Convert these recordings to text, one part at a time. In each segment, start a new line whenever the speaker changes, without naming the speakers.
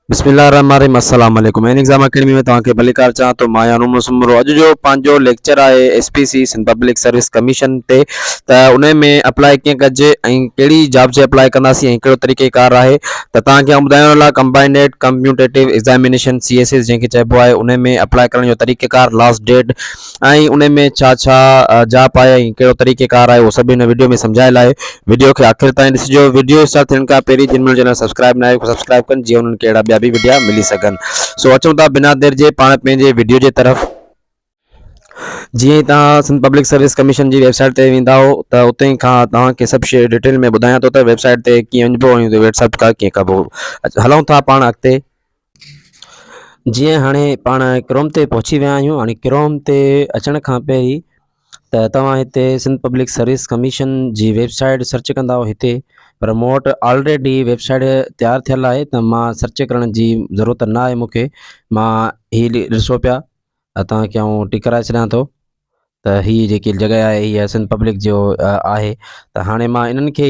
بسم الله الرحمن الرحيم السلام عليڪم ان ايگزام اڪيڊمي ۾ توهان کي ڀليڪار چاهان ٿو مان يانو مسمرو اڄ جو پنهنجو ليڪچر آهي S P C Sindh public service commission تي ته ان ۾ اپلاء ڪيئن ڪجي ۽ ڪهڙي جاب جي اپلاء ڪنداسين ۽ ڪهڙو طريقي ڪار آهي ته توهان کي آئون ٻڌايان لاء combined competitive examination C S S جنهن کي چئبو آهي ان ۾ اپلاء ڪرڻ جو طريقي ڪار لاسٽ ڊيٽ ۽ انهي ۾ ڇا ڇا جاء پاء ۽ ڪهڙو طريقي ڪار آهي اهو سڀ هن وڊيو ۾ سمجهايل آهي وڊيو کي آخر تائين ڏسجو وڊيو اسٽارٽ ٿيڻ کان پهرين جن منهنجو چينل سبسڪرائب ناهي اهي سبسڪرائب ڪن جيئن انهن کي اهڙا ٻيا به وڊيا ملي سگهن سو اچون ٿا بنا دير جي پاڻ پنهنجي وڊيو جي طرف جيئن ئي توهان سنڌ پبلڪ سروس ڪميشن جي ويب سائيٽ تي ويندا آهو ته اتي کان توهان کي سڀ شيء ڊيٽيل ۾ ٻڌايان ٿو ته ويب سائيٽ تي ڪيئن وڃبو ۽ ويٽسپ کان ڪيئن ڪبو هلون ٿا پاڻ اڳتي جيئن هاڻي پاڻ ڪروم تي پهچي ويا آهيون هاڻي ڪروم تي اچڻ کان پهرين ته توهان هتي سنڌ پبلڪ سروس ڪميشن جي ويبسائيٽ سرچ ڪنداو هتي پر مون وٽ آلريڊي ويبسائيٽ تيار ٿيل آهي ته مان سرچ ڪرڻ جي ضرورت نه آهي مونکي مان هي ڏسو پيا توهانکي آئون ٽڪ ڪرائي ڇڏيان ٿو ته هي جيڪي جڳهه آهي هي سنڌ پبلڪ جو آهي ته هاڻي مان انهن کي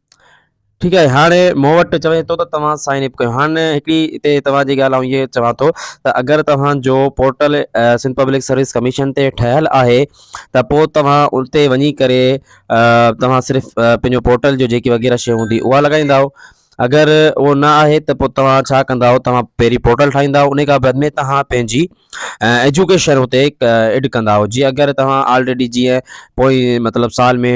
ٺيڪ آهي هاڻي مون وٽ چوي ٿو ته توهان سائن اپ ڪيو هاڻي هڪڙي هتي توهان جي ڳالهه آئون هيء چوان ٿو ته اگر توهان جو portal Sindh public service commission تي ٺهيل آهي ته پوء توهان اتي وڃي ڪري توهان صرف پنهنجو پورٽل جو جيڪي وغيره شيء هوندي اها لڳائيندا اگر اهو نه آهي ته پوء توهان ڇا ڪندا توهان پهرين پورٽل ٺاهيندا ان کان بعد ۾ توهان پنهنجي ايجوڪيشن اتي ايڊ ڪندا جي اگر توهان آلريڊي جيئن پوء مطلب سال ۾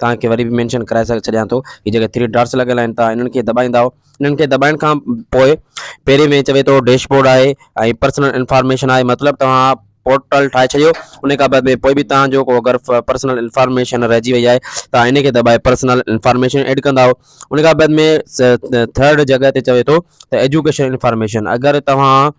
توهان کي وري به مينشن ڪرائي ڇڏيان ٿو هي جيڪي ٿري ڊاٽس لڳل آهن توهان انهن کي دٻائيندا انهن کي دٻائڻ کان پوء پهرين ۾ چوي ٿو ڊيش بورڊ آهي ۽ پرسنل انفارميشن آهي مطلب توهان پورٽل ٺاهي ڇڏيو ان کان بعد ۾ پوء به توهان جو اگر پرسنل انفارميشن رهجي وئي آهي توهان ان کي دٻائي پرسنل انفارميشن ايڊ ڪندا ان کان بعد ۾ ٿرڊ جڳهه تي چوي ٿو ته ايجوڪيشن انفارميشن اگر توهان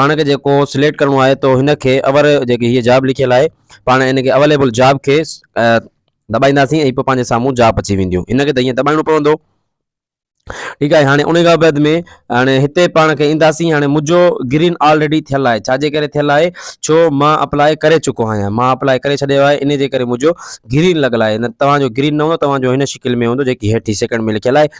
پاڻ کي جيڪو سليڪٽ ڪرڻو آهي تو هن کي اور جيڪي هي جاب لکيل آهي پاڻ ان کي اويليبل جاب کي دٻائينداسين ۽ پوء پنهنجي سامهون جاب اچي وينديون ان کي ته ائين دٻائڻو پوندو ٺيڪ آهي هاڻي ان کان بعد ۾ هاڻي هتي پاڻ کي اينداسين هاڻي منهنجو گرين آلريڊي ٿيل آهي ڇا جي ڪري ٿيل آهي ڇو مان اپلائي ڪري چڪو آهيان مان اپلائي ڪري ڇڏيو آهي ان جي ڪري منهنجو گرين لڳل آهي توهان جو گرين نه هوندو توهان جو هن شڪل ۾ هوندو جيڪي هيٺ سيڪنڊ ۾ لکيل آهي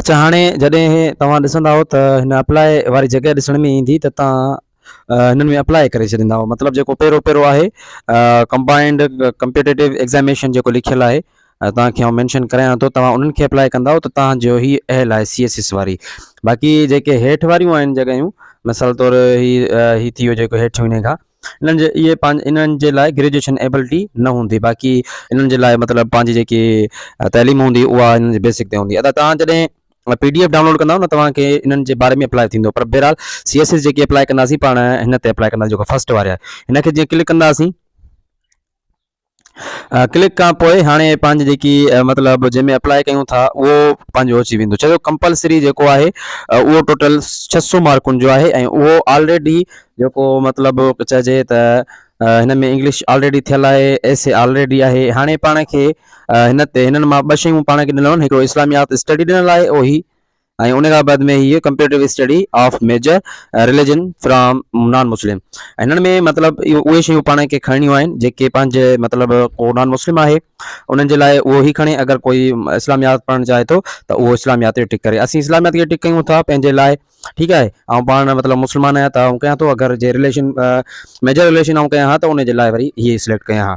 اچا هاڻي جڏهن توهان ڏسندائو ته هن اپلاء واري جڳهه ڏسڻ ۾ ايندي ته توهان هنن ۾ اپلاء ڪري ڇڏيندائو مطلب جيڪو پهريون پهريون آهي ڪمبائنڊ ڪمپيٽيٽو ايگزاميشن جيڪو لکيل آهي توهان کي آئون مينشن ڪرايان ٿو توهان انهن کي اپلاء ڪندائو ته توهان جو هي اهل آهي سي ايس ايس واري باقي جيڪي هيٺ واريون آهن جڳهيون مثال طور هي هي ٿي ويو جيڪو هيٺيون هن کان انهن جي اهي پنهنجي انهن جي لاء گريجوئيشن ايبلٽي نه هوندي باقي انهن جي لاء مطلب پنهنجي جيڪي تعليم هوندي اها انهن جي بيسڪ تي هوندي ادا توهان جڏهن پي ڊي ايف ڊائونلوڊ ڪنداو نه توهان کي انهن جي باري ۾ اپلائي ٿيندو پر بهرحال سي ايس ايس جيڪي اپلائي ڪنداسين پاڻ هن تي اپلائي ڪنداسين جيڪو فرسٽ واري آهي هن کي جيئن ڪلڪ ڪنداسين ڪلڪ کان پوء هاڻي پنهنجي جيڪي مطلب جنهن ۾ اپلائي ڪيون ٿا اهو پنهنجو اچي ويندو چيو ڪمپلسري جيڪو آهي اهو ٽوٽل ڇهه سو مارڪن جو آهي ۽ اهو آلريڊي جيڪو مطلب چئجي ته هن ۾ انگلش آلريڊي ٿيل آهي ايس اي آلريڊي آهي هاڻي پاڻ کي هن تي هنن مان ٻه شيون پاڻ کي ڏنل آهن هڪڙو اسلاميات اسٽڊي ڏنل آهي اهو هي ۽ ان کان بعد ۾ هي comparative study of major religion from non Muslim ۽ هنن ۾ مطلب اهو اهي شيون پاڻ کي کڻڻيون آهن جيڪي پنهنجي مطلب ڪو نان مسلم آهي انهن جي لاء اهو هي کڻي اگر ڪوئي اسلاميات پڙهڻ چاهي ٿو ته اهو اسلاميات کي ٽڪ ڪري اسين اسلاميات کي ٽڪ ڪيون ٿا پنهنجي لاء ٺيڪ آهي آئون پاڻ مطلب مسلمان آهيان ته آئون ڪيان ٿو اگر جي رليشن ميجر رليشن آئون ڪيان ها ته ان جي لاء وري هي سليڪٽ ڪيان ها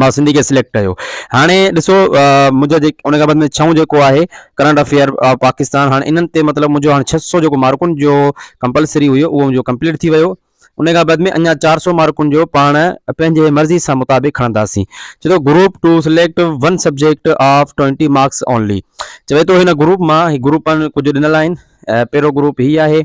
مان سنڌي کي سليڪٽ ڪيو هاڻي ڏسو منهنجا جيڪي ان کان بعد ۾ ڇهون جيڪو آهي ڪرنٽ افيئر پاڪستان هاڻي انهن تي مطلب منهنجو هاڻي ڇهه سو جيڪو مارڪن جو ڪمپلسري هيو اهو منهنجو ڪمپليٽ ٿي ويو ان کان بعد ۾ اڃا چار سو مارڪن جو پاڻ پنهنجي مرضي سان مطابق کڻنداسين چوي ٿو group two select one subject of twenty marks only چوي ٿو هن گروپ مان هي گروپ ڪجهه ڏنل آهن پهريون گروپ هي آهي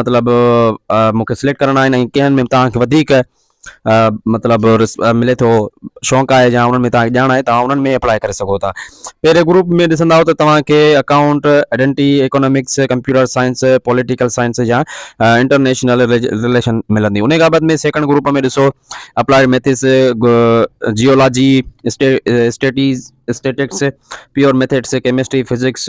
مطلب مون کي سليڪٽ ڪرڻا آهن ۽ ڪنهن ۾ توهان کي وڌيڪ مطلب ملي ٿو شوق آهي يا انهن ۾ توهان کي ڄاڻ آهي توهان انهن ۾ اپلائي ڪري سگهو ٿا پهرين گروپ ۾ ڏسندا ته توهان کي account ايڊنٽي economics computer science political science يا انٽرنيشنل رليشن ملندي ان بابت ۾ سيڪنڊ گروپ ۾ ڏسو applied maths geology statistics statistics pure methods chemistry physics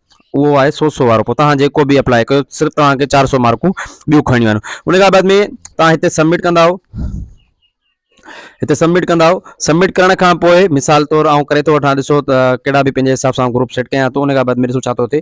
اهو آهي سو سو وارو پوء توهان جيڪو به اپلاء ڪيو صرف توهان کي چار سو مارڪون ٻيون کڻڻيون آهن ان کان بعد ۾ توهان هتي سبمٽ ڪندا آهو هتي سبمٽ ڪندا آهو سبمٽ ڪرڻ کان پوء مثال طور آئون ڪري ٿو وٺان ڏسو ته ڪهڙا به پنهنجي حساب سان گروپ سيٽ ڪيان ٿو ان کان بعد ۾ ڏسو ڇا ٿو ٿئي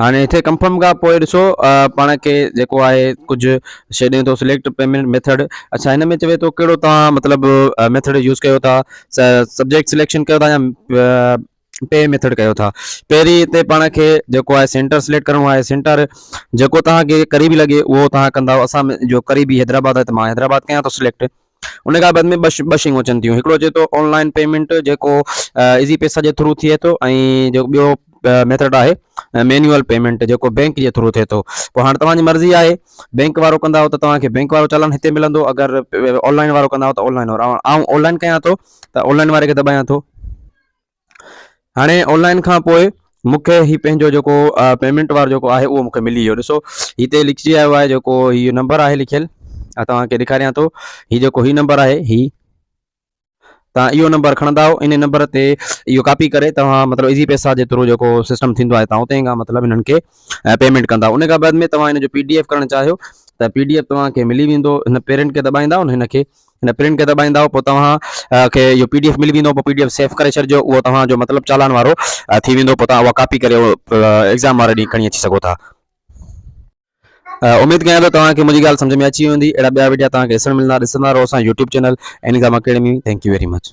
هاڻي هتي ڪنفرم کان پوء ڏسو پاڻ کي جيڪو آهي ڪجهه شي ڏي ٿو سليڪٽ پيمنٽ ميٿڊ اڇا هن ۾ چوي ٿو ڪهڙو توهان مطلب ميٿڊ يوز ڪيو ٿا سبجيڪٽ سليڪشن ڪيو ٿا يا پي ميٿڊ ڪيو ٿا پهرين هتي پاڻ کي جيڪو آهي سينٽر سليڪٽ ڪرڻو آهي سينٽر جيڪو توهان کي قريبي لڳي اهو توهان ڪندا اسان جو قريبي حيدرآباد آهي ته مان حيدرآباد ڪيان ٿو سليڪٽ ان کان بعد ۾ ٻه شيون اچن ٿيون هڪڙو اچي ٿو آن لائن پيمنٽ جيڪو ايزي پيسا جي ٿرو ٿئي ٿو ۽ جو ٻيو ميٿڊ آهي مينوئل پيمنٽ جيڪو بينڪ جي ٿرو ٿئي ٿو پوء هاڻ توهان جي مرضي آهي بينڪ وارو ڪندا آهيو ته توهان کي بينڪ وارو چالان هتي ملندو اگر آن لائن وارو ڪندا آهيو ته آن لائن وارو آئون آن لائن ڪيان ٿو ته آن لائن واري کي دٻايان ٿو هاڻي آنلائن کان پوء مونکي هي پنهنجو جيڪو پيمنٽ وارو جيڪو آهي اهو مونکي ملي ويو ڏسو هتي لکجي آيو آهي جيڪو هي نمبر آهي لکيل آ توهان کي ڏيکاريان ٿو هي جيڪو هي نمبر آهي هي توهان اهو نمبر کڻندا ان نمبر تي اهو ڪاپي ڪري توهان مطلب ايزي پيسا جي ٿرو جيڪو سسٽم ٿيندو آهي توهان اتي کان مطلب هنن کي پيمنٽ ڪندا ان کان بعد ۾ توهان هن جو پي ڊي ايف ڪرڻ چاهيو ته پي ڊي ايف توهان کي ملي ويندو هن پيرنٽ کي دٻائيندا هن کي هن پرنٽ کي دٻائيندا پوء توهان کي اهو پي ڊي ايف ملي ويندو پوء پي ڊي ايف سيف ڪري ڇڏجو اهو توهان جو مطلب چالان وارو ٿي ويندو پوء توهان اها ڪاپي ڪري ايگزام واري ڏينهن کڻي اچي سگهو ٿا اميد ڪيان ٿو توهان کي منهنجي ڳالهه سمجھ ۾ اچي ويندي اهڙا ٻيا وڊيا توهان کي ڏسڻ ملندا ڏسندا رهو اسان يوٽيوب چينل اينيزام academy thank you very much